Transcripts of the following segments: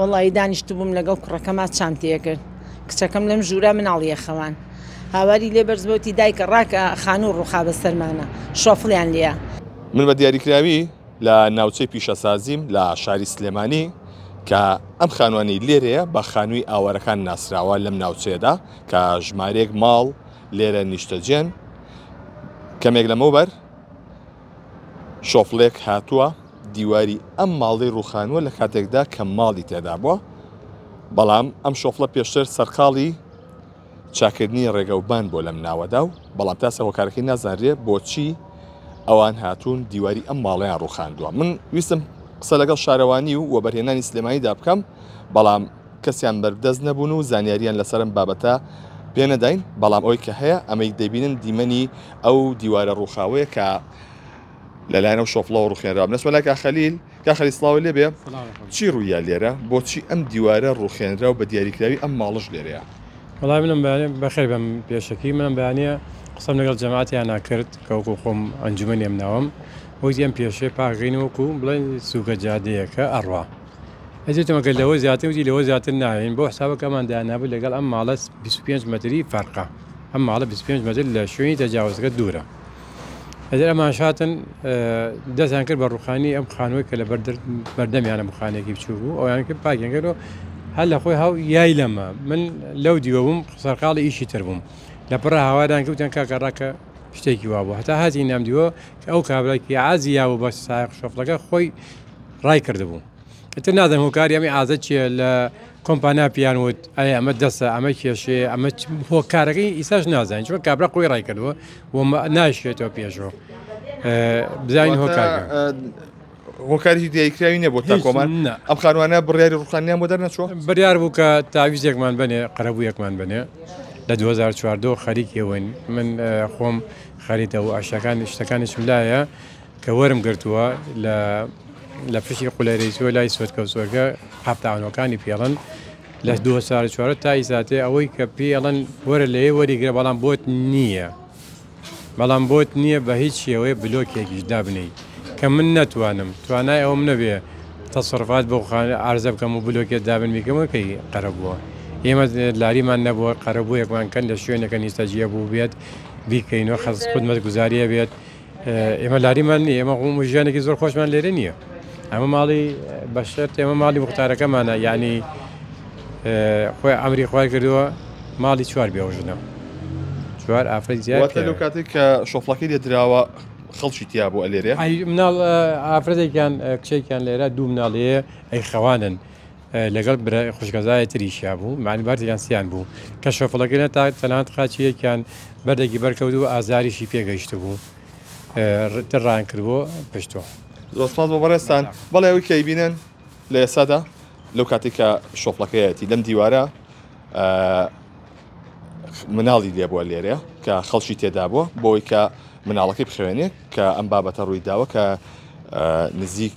وەڵایی دانیشتبووم لەگەڵ کوڕەکەما چام تێکرد کچەکەم لەم ژوورە مناڵیە خەوان هاواری لێ بەرز بۆتی دایکە ڕاکە خانوو ڕوخا بە سەرمانا شۆفڵیان لیا. من بە دیاریکراوی لە ناوچەی پیشەسازیم لە شاری سلێمانی کە ئەم خانوانەی لێرەیە بە خانووی ئاوارەکان ناسراوە لەم ناوچەیەدا کە ژمارەیەک ماڵ لێرە نیشتەجێن کەمێک لەمەوبەر شۆفڵێک هاتووە دیواری ئەم ماڵی ڕوخانووە لە کاتێکدا کە ماڵی تێدا بووە بەڵام ئەم شۆفڵە پێشتر سەرقاڵی چاکردنی ڕێگەوبان بۆ لەم ناوەدا و بەڵام تاسە هۆکارەکەی نازانرێ بۆچی ئەوان هاتوون دیواری ئەم ماڵیان ڕوخاندووە من ویستم قسە لەگەڵ شارەوانی و وەبەرهێنانی سلێمانیدا بکەم بەڵام کەسیان بەردەست نەبوون و زانیارییان لەسەر ئەم بابەتە پێ نەداین، بەڵام ئەوەی کە هەیە، ئەمەی دەیبینن دیمەنی ئەو دیوارە ڕووخاوەیە کە لەلایەن ئەو شۆفڵەوە ڕووخێنرا. بنەچمە لای کاک خەلیل. کاک خەلیل سڵاوت لێ بێ. چی ڕوویە لێرە؟ بۆچی ئەم دیوارە ڕووخێنرا و بە دیاریکراوی ئەم ماڵەش لێرەیە؟ وەڵای منم بەیانیە، بەخێر بێم پێشەکی، منم بەیانیە قسەم لەگەڵ جەماتیانا کرد کە وەکوو خۆم ئەنجومەنی ئەم ناوەم، وتی ئەم پێشێ پاک غەینە وەکوو بڵێی سووکە جادەیەکە ئەڕوا. ئەزێتم ئەکرد لەوە زیاتر وتی لەوە زیاتر نایەین بۆ حسابە کە ئەمان دایانابوو لەگەڵ ئەم ماڵە 25 مەتری فەرقە ئەم ماڵە 25 مەتر لە شوێنی تەجاوزەکە دوورە ئەجر ئەمان شاتن دەستیان کرد بە ڕوخانی ئەم خانووی کە لە بەردەمیانە بخانێکی بچوو بوو ئەویان کرد پاگەنگەرەوە هەر لە خۆی هاو یای لەمە من لەو دیوە بووم سەرقاڵی ئیشی تر بووم لە پڕ هاوادان کەوتیان کاکە ڕاکە شتێکی وابوو هەتا هاتی نامدیوە کە ئەو کابراکی عزییا و بە سایق شۆفلەکە خۆی ڕای کردبوو ئتر نازم هۆکاری ئەمی ئازە چیە لە کۆمپانیا پیان وت ئەی ئەمە دەسە ئەمە کێشێ ئەمە هۆکارەکەی ئیساش نازانین چۆن کابرا خۆی ڕای کردووە و ناشێتەوە پێشەوە بزانین هۆکار هۆکاری دیکراوی نیە بۆ تا کۆمان ئەم خانوانە بڕیاری ڕوخانیان بۆ دەرنەچوە بڕیار بوو کە تاویزێکمان بنێ قەرەبوو یەکمان بنێ لە 2014 خەریکەوەین من خۆم خەریتەوە ئاشەکان شتەکانیشم لایە کە وەرم گرتووە لە لە پشی قولەرەی چووە لای سوێتکە و سوێرکە قاپتانەکانی پێڵن لە دو سار چوارە تای ساتێ ئەوەی کە پێڵن وەرە لەیە وەریگرە بەڵام بۆت نییە بەڵام بۆت نییە بە هیچ شێوەیە بلۆکێکیش دابنیت کە من نەتوانم توانای ئەوم نەبێ تەسەرفات بۆ ئارزە بکەم و بلۆکێت دابن میکەمەکەی قەرە بووە ئێمە لاریمان نەبووە قەرەبوویەکمان کەن لە شوێنەکە نیستەجیە بوو بێت بیکەینەوە خەز خودمەت گوزاریە بێت ئێمە لاریمان نییە ئێمە ڕووم و ژیانێکی زۆر خۆشمان لێرە نییە ئەمە ماڵی بەشێت ئێمە ماڵی وختارەکەمانە ینی خۆی ئەمری خوای کردووە ماڵی چوار بێوژنە چوار ئافرەت زیاتە لەو کاتێک کە شۆفڵەکەی لێ دراوە خەڵکی تیا بۆ ئەلێرێ مناڵ ئافرەتێکیان کچێکیان لێرە دوو مناڵەیە ئەی خەوانن لەگەڵ برا خوشکەزای تریشیا بوو معنی بارتی یانسیان بوو کە شەفڵەکە نە تا تەنات قاچی یەکیان بەردەگی بەرکەوت و ئازاریشی پێگەیشت بوو ڕان کردبوو پشتۆ زۆسپاس بۆ بەڕێستان بەڵێ ئەوی کەی بینن لە ئێسادا لەو کاتێک کە شۆفڵەکەیەتی لەم دیوارە مناڵی لێبووە لێرە کە خەڵکی تێدا بووە بۆی کە مناڵەکەی بخوێنێت کە ئەم بابەتە ڕووی داوە کە نزیک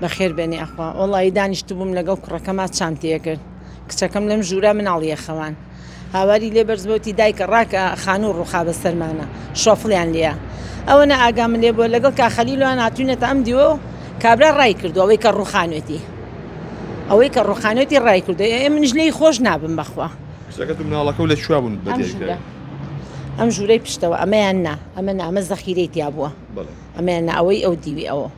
بەخێر بێنی یاخوا وەڵایی دانیشتبووم لەگەڵ کوڕەکەما چانتەیە کرد کچەکەم لەم ژوورە مناڵیە خەوان هاواری لێ بەرزبەوتی دایکە ڕاکە خانوو ڕوخا بە سەرمانە شۆفڵیان لە ئەوە نە ئاگام لێ بۆ لەگەڵ کاخەلیلوان هاتوینەتە ئەم دیوە و کابرا ڕای کردو ئەوەی کە ڕوخانێتی ئەوەی کە ڕوخانێتی ڕای کردو ئێ منش لی خۆش نابم بەخوا مناڵەکە لە چوا بوون ئەم ژوورەی پشتەوە ئەمەیان نا ئەمە نامە زەخیرەی تیا بووە ئەمەیان ئەوەی ئەو دیوی ئەوە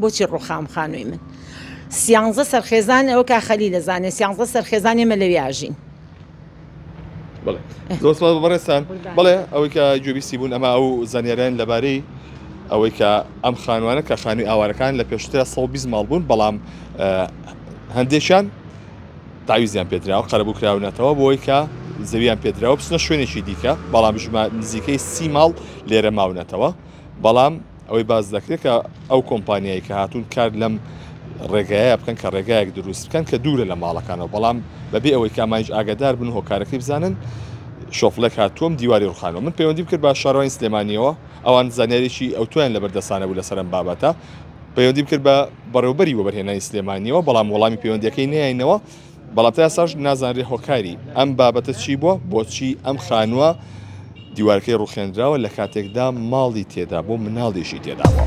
بۆچی ڕوخام خانووی من سیانزە سەرخێزان ئەو کا خەلی لە زانێ سیانزە سەرخێزان ئێمە لەوێ ئاژین بەڕێستان بڵێ ئەوەی کە گوێبیستی بوون ئەمە ئەو زانیاریان لەبارەی ئەوەی کە ئەم خانوانە کە خانووی ئاوارەکان لە پێشترە 120 ماڵ بوون بەڵام هەندێکیان تاویزیان پێدراوە قەرەبوو کراونەتەوە بۆی کە زەویان پێدراوە بچنە شوێنێکی دیکە بەڵام ژما نزیکەی سی ماڵ لێرە ماونەتەوە بەڵام ئەوەی باس دەکرێت کە ئەو کۆمپانیایی کە هاتوون کار لەم ڕێگایە بکەن کە ڕێگایەک دروست بکەن کە دوورە لە ماڵەکانەوە بەڵام بەبێ ئەوەی کامانج ئاگادار بن هۆکارەکەی بزانن شۆفلێک هاتووم دیواری ڕخانەوە من پەیوەندی کرد بە شارۆین سلێمانیەوە ئەوان زانیاریی ئەو تویان لە بەردەسانە بوو لەسەرم بابەتە پەیوەندیم کرد بە بەڕێوبەری وەبەرهێنانی سلێمانیەوە بەڵام وەڵامی پەیوەندەکەی نیاینەوە بەڵام تا ئێستاش نازانرێت هۆکاری ئەم بابەتە چی بووە، بۆچی ئەم خانووە دیوارەکەی ڕوخێنراوە لە کاتێکدا ماڵی تێدا بوو مناڵیشی تێدا بووە.